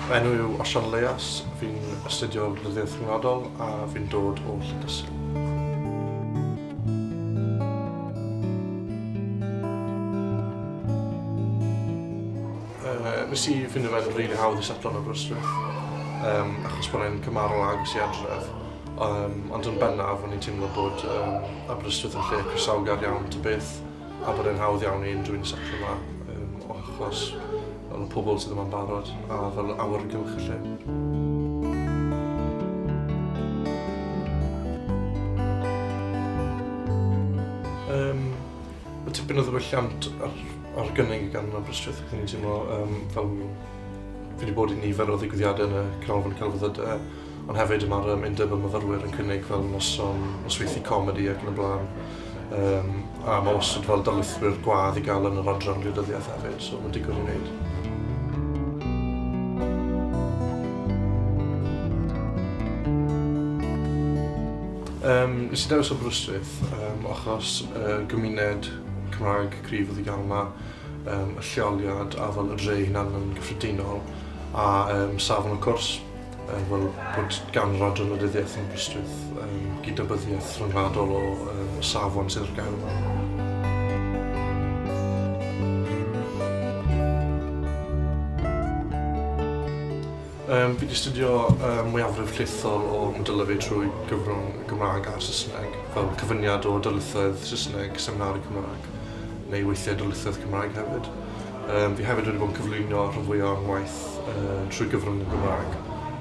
Fy enw yw Osian Leas, fi'n astudio Rhyddiaith Rhyngwladol a fi'n dod o Llydysil. Nes i ffindo fe'n rili hawdd i setlo yn Aberystwyth achos bod e'n cymharol agos i adref. Yym, ond yn bennaf, o'n i'n teimlo bod yym Aberystwyth yn lle croesawgar iawn ta beth, a bod e'n hawdd iawn i unrhyw un setlo 'ma, yym, o achos fel y pobl sydd yma'n barod, a fel awyrgylch y lle. Yym, ma' tipyn o ddiwylliant ar ar gynnig gan Aberystwyth, ac o'n i'n teimlo yym fel fi 'di bod i nifer o ddigwyddiade yn y Canolfan Celfyddyde, Ond hefyd mae'r um, undeb y myfyrwyr yn cynnig fel noson nosweithi comedi ac yn y blaen. Um, a mae wastad fel darlithwyr gwadd i gael yn yr adran gwleidyddiaeth hefyd, so mae'n digwydd i wneud. Um, nes i dewis Aberystwyth um, achos uh, gymuned Cymraeg cryf oedd i gael yma, um, y lleoliad a fel y dre hynna'n gyffredinol a um, safon y cwrs. Yy wel, bod gan yr Adran Wleidyddiaeth Aberystwyth yym gydnabyddiaeth rhyngwladol o yy y safon sydd ar gael yma. Um, fi wedi astudio um, mwyafrif llethol o modylau fi trwy gyfrwng y Gymraeg a'r Saesneg, fel cyfyniad o darlithoedd Saesneg, seminari Cymraeg, neu weithiau darlithoedd Cymraeg hefyd. Yym, fi hefyd wedi bod yn cyflwyno rhan fwya o'n ngwaith yy trwy gyfrwng y Gymraeg.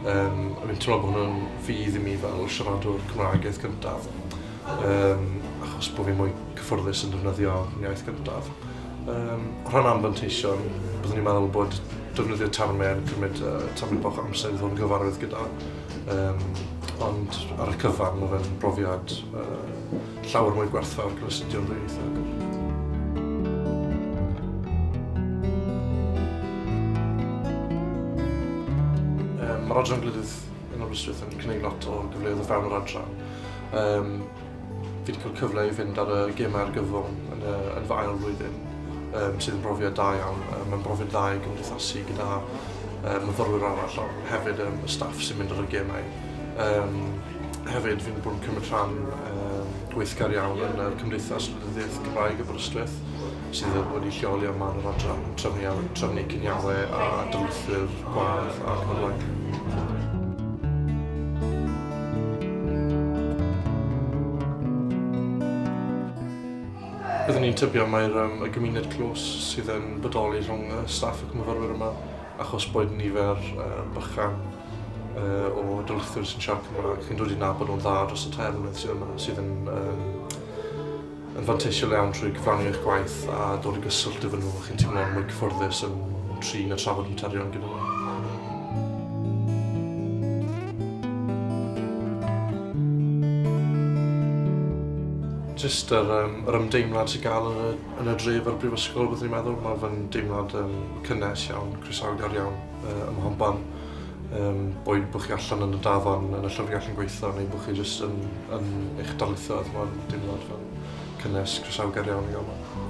Yym, a fi'n teimlo bo' hwn yn fudd i mi fel siaradwr Cymraeg iaith gyntaf. Yym, achos bo' fi'n mwy cyffyrddus yn defnyddio fy iaith gyntaf. Yym, o rhan anfanteision, byddwn i'n meddwl bod defnyddio terme yn cymryd yy tamaid bach o amser i ddod yn gyfarwydd gyda. Yym, ond ar y cyfan ma' fe'n brofiad yy Llawer mwy gwerthfawr gyda studio'n ddwyieithog. Mae'r adran glydydd yn Aberystwyth yn cynnig lot o gyfleoedd o fewn yr adran. Um, fi wedi cael cyfle i fynd ar y gemau argyfwng yn, uh, yn fy ail flwyddyn, um, sydd yn brofiad da iawn. Um, Mae'n brofiad dda i gymdeithasu gyda um, myfyrwyr arall, ond hefyd um, y staff sy'n mynd ar y gemau. Um, hefyd, fi'n bod yn cymryd rhan um, gweithgar iawn yn y Cymdeithas Lydyddiaeth Gymraeg y Brystwyth, sydd wedi lleoli am man yr adran trefnu, trefnu cynialau a dylwythyr gwadd a chwrlang. Byddwn ni'n tybio mai'r um, y gymuned clos sydd yn bodoli rhwng y staff ac myfyrwyr yma Achos bod nifer bychan o darlithwyr sy'n siarad Cymraeg, chi'n dod i nabod nhw'n dda dros y tair mlynedd sydd yma, sydd yn, um, yn fanteisiol iawn trwy gyfrannu eich gwaith a dod i gyswllt efo nhw, chi'n teimlo'n mwy cyfforddus yn trin a trafod materion gyda nhw. Just yr, um, yr ymdeimlad sy'n gael yn y Yn y dref a'r brifysgol byddwn i'n meddwl, mae fe'n deimlad um, cynnes iawn, croesawgar iawn uh, ym Mhonban. Um, boed bod chi allan yn y dafan, yn y llyfrgell yn gweithio, neu bod chi jyst yn, yn eich darlithoedd, mae'n deimlad fel cynnes, croesawgar iawn i gael yma.